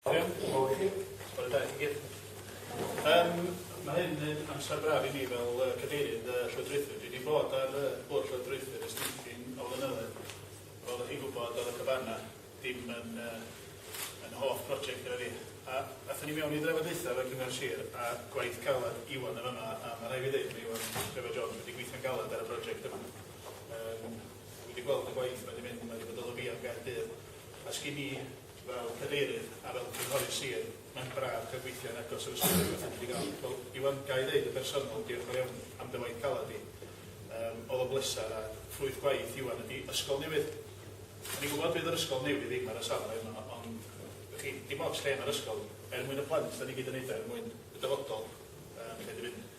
Iawn, diolch yn fawr i chi. Bore da i chi gyd. Yym, ma' hyn yn amser braf i mi fel yy cadeirydd y llywodraethwyr. Dwi 'di bod ar y bwrdd llywodraethwyr ers dipyn o flynyddoedd. Fel dach chi'n gwybod, o'dd y cabana dim yn yy yn hoff broject gyda fi. A athon ni mewn i drafodaetha efo Cyngor Sir a gwaith caled Iwan yn fama, a ma' rhai' fi ddeud ma' Iwan Trevor Jones wedi gweithio'n galed ar y broject yma. Yym, dwi 'di gweld y gwaith ma' 'di mynd, ma' 'di bod o Lyfia'n Gaerdydd, a sgin i Fel Cadeirydd a fel Cynghorydd Sir, mae'n braf cael gweithio yn agos i'r Ysgol Gynradd Tydfil-y-gall. Wel, Iwan, ga i ddeud yn bersonol, diolch yn fawr iawn am dy waith caled di. Yym, oedd o'n bleser a ffrwyth gwaith Iwan ydi ysgol newydd. O'n i'n gwybod fydd yr ysgol newydd ddim ar y safle yma, ond, y'ch chi, dim ots lle ma'r ysgol, er mwyn y plant, 'dan ni gyd yn neud o er mwyn y dyfodol, yym, lle dwi mynd.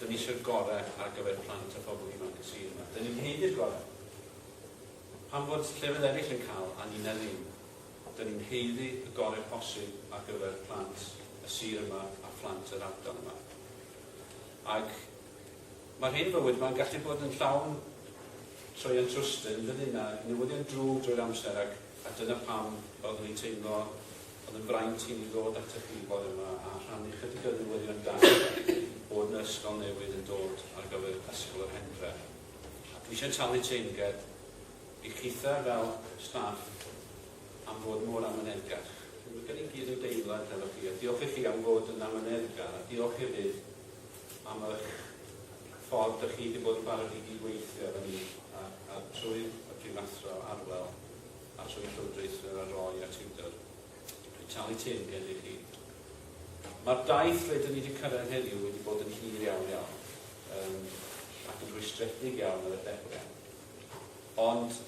Dyn ni isio'r gorau ar gyfer plant a phobl ifanc y sir yma. Dyn ni'n haeddu'r gorau. Pam fod llefydd eraill yn cael a ninna ddim? Dyn ni'n haeddu y gorau posib ar gyfer plant y sir yma a phlant yr ardal yma. Ac mae'r hen fywyd yma'n gallu bod yn llawn troian trwsty, yn dydyn, a newyddion drwg drwy'r amser ac, a dyna pam oeddwn i'n teimlo Oedd yn fraint i mi ddod atych chi bore yma a rhannu chydig o newyddion da bod na ysgol newydd yn dod ar gyfer Ysgol yr Hendre. Dwi eisiau talu teyrnged i chithe fel staff am fod mor amyneddgar. Dwi gan i gyd yn deimlad efo chi a diolch i chi am fod yn amyneddgar a diolch hefyd am ych ffordd dych chi wedi bod yn barod i gyd-weithio efo ni a, a trwy y Prifathro Arwel. Os yw'r Llywodraeth yn ei roi ar Tinder, dwi'n talu teyrnged i chi. Mae'r daith rydyn ni wedi cyrraedd heddiw wedi bod yn hir iawn iawn um, ac yn rhwystredig iawn ar y dechrau. Ond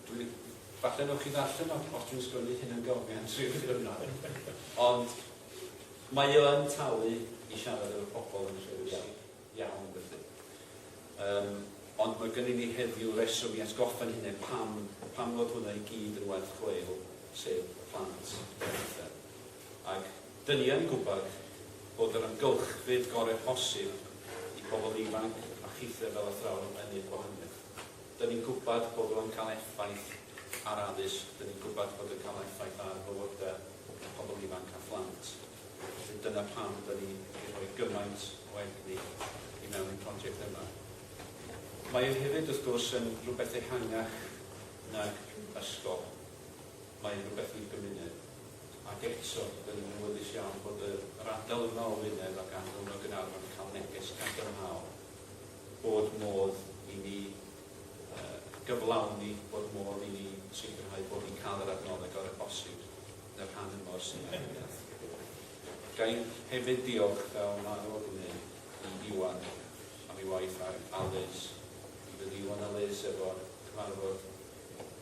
dwi, falle nwch chi ddarllen os dwi'n sgwennu hyn yn gymryd tri ddiwrnod. Ond mae yn talu i siarad efo pobl yn rhywbeth. iawn felly. Yym, ond mae gynnu ni heddiw reswm i atgoffa'n hunain pam, pam fod hwnna i gyd yn werth chweil, sef y plant yn uchel. Ac dyn ni yn gwybod bod yr amgylchfyd gorau posib i bobl ifanc a chithre fel athrawon yn neud gwahaniaeth. Dyn ni'n gwybod bod o'n cael effaith ar addysg, dyn ni'n gwybod bod o'n cael effaith ar fywydau pobl ifanc a phlant. Felly dyna pam da ni wedi rhoi gymaint o egni i mewn i'r project yma. Mae e hefyd, wrth gwrs, yn rhywbeth ehangach nag ysgol. Mae'n rhywbeth i'r gymuned. Ac eto, da ni'n awyddus iawn bod yr ardal yma o Wynedd ac Anglyn o Gaernarfon yn cael neges cadarnhaol bod modd i ni gyflawni, bod modd i ni sicrhau bod ni'n cael yr adnoddau gorau posib. yn y rhan yma o'r Senedd. Ga i hefyd ddiolch, fel mae nhw o gwneud, i Iwan am ei waith ar ALES. Mi fydd Iwan ALES efo cyfarfod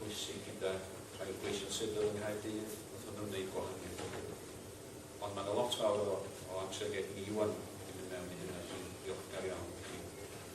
bwysig gyda rhai o'r gweision sifil yng Nghaerdydd wrth iddyn nhw wneud gwahaniaeth o gwbl. Ond mae yna lot fawr o amser geg i Iwan i fynd mewn i hyn a dwi'n ddiolchgar iawn i chi.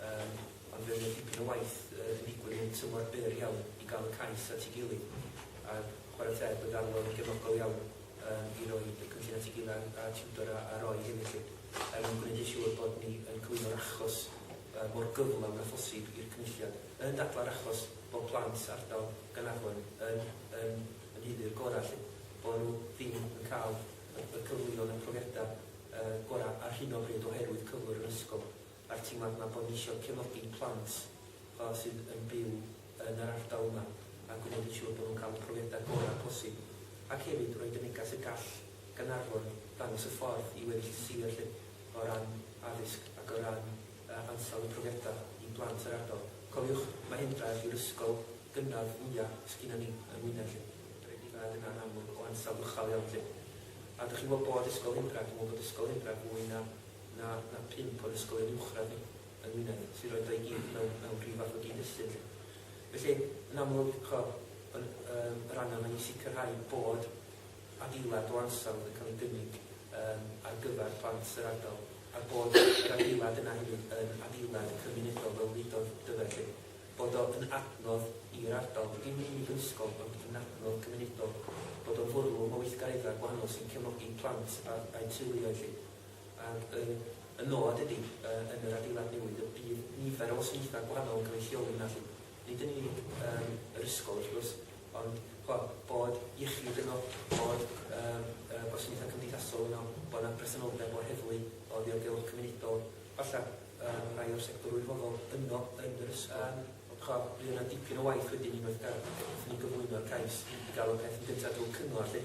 Yym, ond fe oedd 'na dipyn o waith yy yn digwydd yn tymor byr iawn i gael y cais at ei gilydd, a chwarae teg bod Arlo yn gefnogol iawn yym i roi y cynllun at ei gilydd a a tiwtor a a Roy hefyd 'lly, er mwyn gwneud yn siŵr bod ni yn cyflwyno'r achos yy mor gyflawn â phosib i'r Cynulliad, yn dadlau'r achos bod plant ardal Gaernarfon yn yn yn haeddu'r gorau 'lly, bod nhw ddim yn cael y y cyfleon a'r profiadau yy gorau ar hyn o bryd oherwydd cyflwr yr ysgol. a'r teimlad 'ma bod ni isio cefnogi plant sydd yn byw yn yr ardal yma a gwneud yn siŵr bod nhw'n cael y profiadau gorau posib ac hefyd roid y neges y gall Gaernarfon ddangos y ffordd i weddill y sir 'lly o ran addysg ac o ran ansawdd y profiadau i blant yr ardal. Cofiwch, mae Hendraeth yw'r ysgol gynradd fwya' sgynnon ni yng Ngwynedd 'lly. Yr unig beth yna yn amlwg o ansawdd uchel iawn 'lly. A dych chi'n gwybod bod Ysgol Hendraeth, dwi'n meddwl bod Ysgol Hendraeth fwy na na na pump o'r ysgolion uwchradd yng Ngwynedd sy'n rhoid o i gyd mewn mewn rhyw fath o gyd-destun 'lly. Felly, yn amlwg, co, yr yym yr angen yma i sicrhau bod adeilad o ansawdd yn cael ei gynnig yym ar gyfer plant yr ardal, a'r bod yr adeilad yna hefyd yn adeilad cymunedol fel wedodd Dyfed 'lly, bod o yn adnodd i'r ardal, dim yn unig yn ysgol ond yn adnodd cymunedol, bod o'n fwrlwm o weithgareddau gwahanol sy'n cefnogi plant a a'u teuluoedd 'lly. Ar y y nod ydy, y yn yr adeilad newydd y bydd nifer o wasanaethau gwahanol yn cael eu lleoli yna 'lly. Nid yn unig yym yr ysgol wrth gwrs, ond ch'bo', bod iechyd yno, bod yym y gwasanaethau cymdeithasol yno, bod 'na bresenoldeb o'r heddlu, o ddiogelwch cymunedol, falle yym rhai o'r sector wirfoddol yno yn yr ysgol. Yym ch'bo', bydd yna dipyn o waith wedyn unwaith ga- wrth i ni gyflwyno'r cais i gael y peth yn gyntaf drwy'r cyngor 'lly.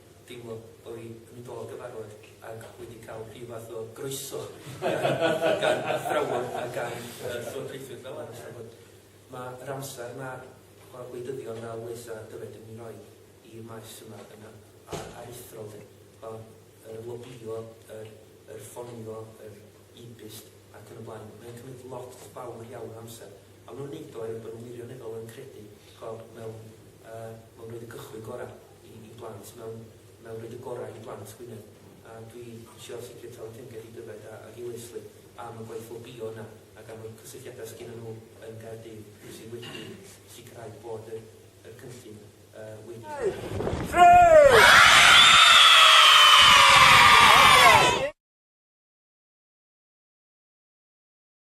deimlo bo' fi yn do gyfarfod ag wedi ca'l rhyw fath o groeso gan athrawon a gan y llywodraethwyr fel arall a bod ma' yr amser ma' y gwleidyddion fel Wes a Dyfed yn i roi i'r maes yma yn aruthrol de, o yr lobïo, yr yr ffonio, yr e-byst ac yn y blaen, mae'n cymryd lot fawr iawn o amser, a ma' nhw'n neud o er bod nhw wirioneddol yn credu, ch'bo, mewn yy mewn roid y cychwyn gora. i i blant mewn mewn rhoid y gorau i blant Gwynedd a dwi isio sicr talu teyrnged i Dyfed a, ag i Lesley am y gwaith lobïo yna ac am y cysylltiadau sgynnon nhw yn Gaerdydd sydd wedi sicrhau bod yr yr cynllun uh, wedi